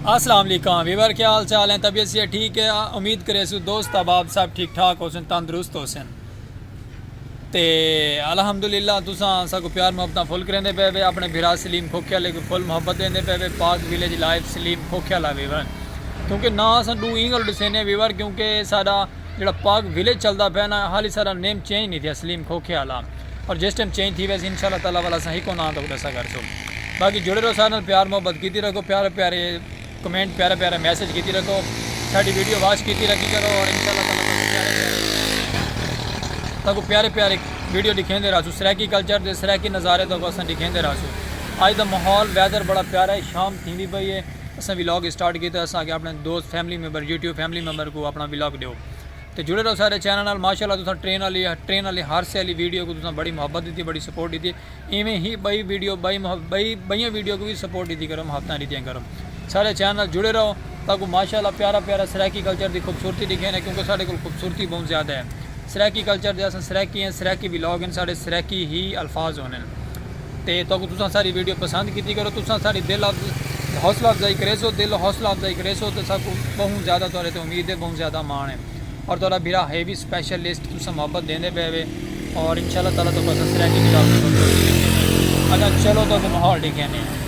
السلام علیکم ویور کیا حال چال ہیں طبیعت سے ٹھیک ہے امید کرے سو دوست احباب سب ٹھیک ٹھاک ہو سن تندرست ہو سن تے الحمدللہ تساں اسا کو پیار محبتاں فل کریندے پے وے اپنے بھرا سلیم کھوکھیا لے کو فل محبت دیندے پے وے پاک ویلیج لائف سلیم کھوکھیا لا ویور کیونکہ نا اساں دو اینگل ڈسینے ویور کیونکہ ساڈا جیڑھا پاک ویلیج چلدا پئے نا حالی ساڈا نیم چینج نی تھیا سلیم کھوکھے آلا پر جس ٹائم چینج تھی ویسی انشاءاللہ تعالی والا اساں ہکو ناں تہاکوں ڈسا کرسوں باقی جڑے رہو ساڈے نال پیار محبت کیتی رکھو پیارے پیارے کمنٹ پیارے پیارے میسج کیتی رکھو ساڈی ویڈیو واچ کیتی رکھی کرو اور انشاءاللہ تعالی تہاکوں پیارے پیارے ویڈیو ڈکھیندے رہسوں سرائیکی کلچر دے سرائیکی نظارے تہاکوں اساں ڈکھیندے رہسوں اج دا ماحول ویدر بڑا پیارا ہے شام تھیندی پئی ہے اساں ولاگ اسٹارٹ کیتا اساں آکھیا اپنے دوست family member YouTube family member کوں اپنا ولاگ ڈیو تے جڑے رہو سارے چینل نال ماشاءاللہ تساں ٹرین آلی ٹرین آلی حادثے آلی ویڈیو کوں تساں بڑی محبت ڈتی بڑی سپورٹ ڈتی ایویں ہی بئی ویڈیو بئی بئی بئیاں ویڈیو کوں وی سپورٹ ڈتی کرو محبتاں ڈتیاں کرو سارے چینل نال جڑے رہو تاکو ماشاءاللہ پیارا پیارا سرائیکی کلچر دی خوبصورتی ڈکھے نے کیونکہ ساڈے کول خوبصورتی بہوں زیادہ ہے سرائیکی کلچر دے اساں سرائیکی ہیں سرائیکی ولاگ ہیں ساڈے سرائیکی ہی الفاظ ہوندے تے تہاکوں تساں ساڈی ویڈیو پسند کیتی کرو تساں ساڈی دل حوصلہ افزائی کریسو دل حوصلہ افزائی کریسو تے ساکوں بہوں زیادہ تہاڈے تے امید ہے بہوں زیادہ ماݨ ہے اور تہاڈا بھرا ہے وی سپیشل لسٹ تساں محبت دیندے پئے وے اور انشاءاللہ تعالی تہاکوں اساں سرائیکی کتاب اچھا چلو تہاکوں ماحول ڈیکھیندے ہیں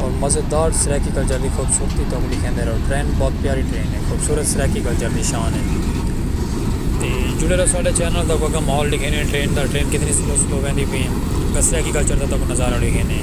اور مزیدار سرائیکی کلچر دی خوبصورتی تاں اگلی کہندے رہو ٹرین بہت پیاری ٹرین ہے خوبصورت سرائیکی کلچر دی شان ہے تے جڑے رہو ساڈے چینل دا کوئی ماحول لکھے نے ٹرین دا ٹرین کتنی سلو سلو ویندی پئی ہے سرائیکی کلچر دا تاں نظارہ لکھے نے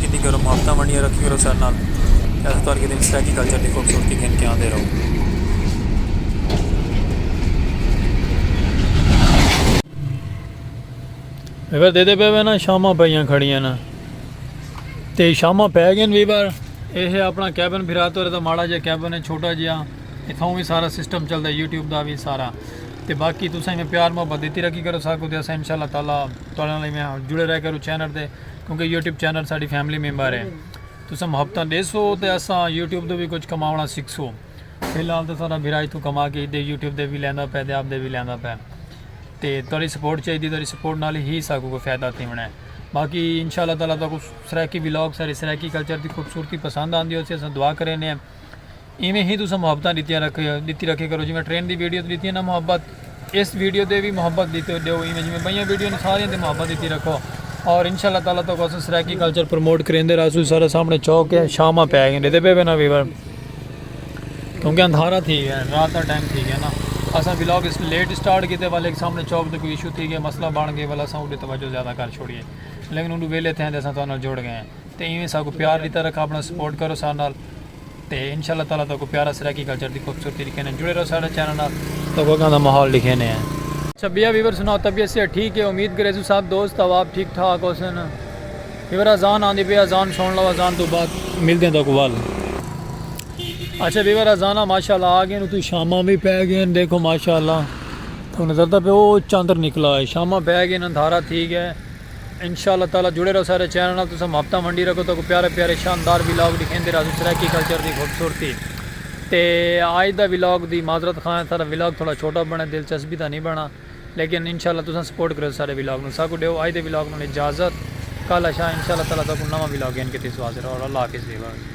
کیتی کرو محبتاں ونڈیاں رکھی کرو ساڈے نال تے اساں تہاݙے کیتے سرائیکی کلچر دی خوبصورتی گھن کے آندے رہوں۔ ویبر دیندے پئے وینا شاماں پئیاں کھڑیاں نا تے شاماں پئے گئے ویبر اے ہے اپنا کیبن پھرا تو رہتا ماڑا جا کیبن ہے چھوٹا جیا اتھاں وی سارا سسٹم چلدا ہے یوٹیوب دا وی سارا تے باقی تساں میں پیار محبت دیتی رکھی کرو ساکو تے اساں انشاءاللہ تعالی تہاڈے نال میں جڑے رہ کرو چینل تے کیونکہ یوٹیوب چینل ساڈی فیملی ممبر ہے تساں محبتاں ڈیسو تے اساں یوٹیوب دے بھی کچھ کماونا سکھسو فی الحال تے ساڈا بھرا اتھوں کما کے ایدے یوٹیوب دے بھی لیندا پے تے آپ دے بھی لیندا پے تے تہاڈی سپورٹ چاہیدی تہاڈی سپورٹ نال ہی ساکوں کوئی فائدہ تھیونا ہے باقی انشاءاللہ تعالی تہاکوں سرائیکی ولاگ سارے سرائیکی کلچر دی خوبصورتی پسند آندی ہوسی اساں دعا کرینے ہیں ایویں ہی تساں محبتاں ڈتیاں رکھے ڈتی رکھے کرو جویں ٹرین دی ویڈیو تے ڈتی نا محبت اس ویڈیو تے بھی محبت دیتے دیو ایویں جویں بئیاں ویڈیو نے سارے تے محبت دیتی رکھو اور انشاءاللہ تعالی تو کو سرائیکی کلچر پروموٹ کریندے رہسو سارے سامنے چوک ہے شاماں پہ گئے دیتے پے نا ویور کیونکہ اندھارا تھی گیا رات دا ٹائم تھی گیا نا اسا ولاگ اس لیٹ سٹارٹ کیتے والے ایک سامنے چوک تے کوئی ایشو تھی گیا مسئلہ بن گئے والا ساؤنڈ توجہ زیادہ کر چھوڑیے لیکن انہوں ویلے تھے اسا تو انہاں جوڑ گئے ہیں تے ایویں ساکوں پیار ڈیتا رکھا اپنا سپورٹ کرو ساڈے نال تے انشاء اللہ تعالی تہاکوں پیارا سرائیکی کلچر دی خوبصورتی ڈکھینے جڑے رہو ساڈے چینل نال تہاکوں اگاں دا ماحول ڈکھینے ہیں۔ شبیہ ویور سناؤ طبیعت صحت ٹھیک ہے امید گریزوں سب دوست اواب ٹھیک ٹھاک ہوسن ویور اذان آندی پئی اذان سن لو اذان توں بعد ملدے تہاکوں ول۔ اچھا ویور اذاناں ماشاءاللہ آ گئین اتوں شاماں وی پے گئین دیکھو ماشاءاللہ تہاکوں نظر تاں پے او چندر نکلا ہے شاماں پے گئین اندھارا تھی گئے انشاء اللہ تعالی جڑے رہو سارے چینل نال تساں محبتاں ونڈی رکھو تہاکوں پیارے پیارے شاندار ولاگ ڈکھیندے رہاسوں سرائیکی کلچر دی خوبصورتی تے آج دا ولاگ دی معذرت خواہ ہیں سارا ولاگ تھوڑا چھوٹا بنے دلچسپی دا نہیں بنا لیکن انشاء اللہ تساں سپورٹ کریو سارے ولاگ نوں ساکوں ڈیو آج دے ولاگ نال اجازت کل اشاء انشاء اللہ تعالی تہاکوں نواں ولاگ گھن کے تیسوں حاضر ہاں اللہ حافظ ویورز۔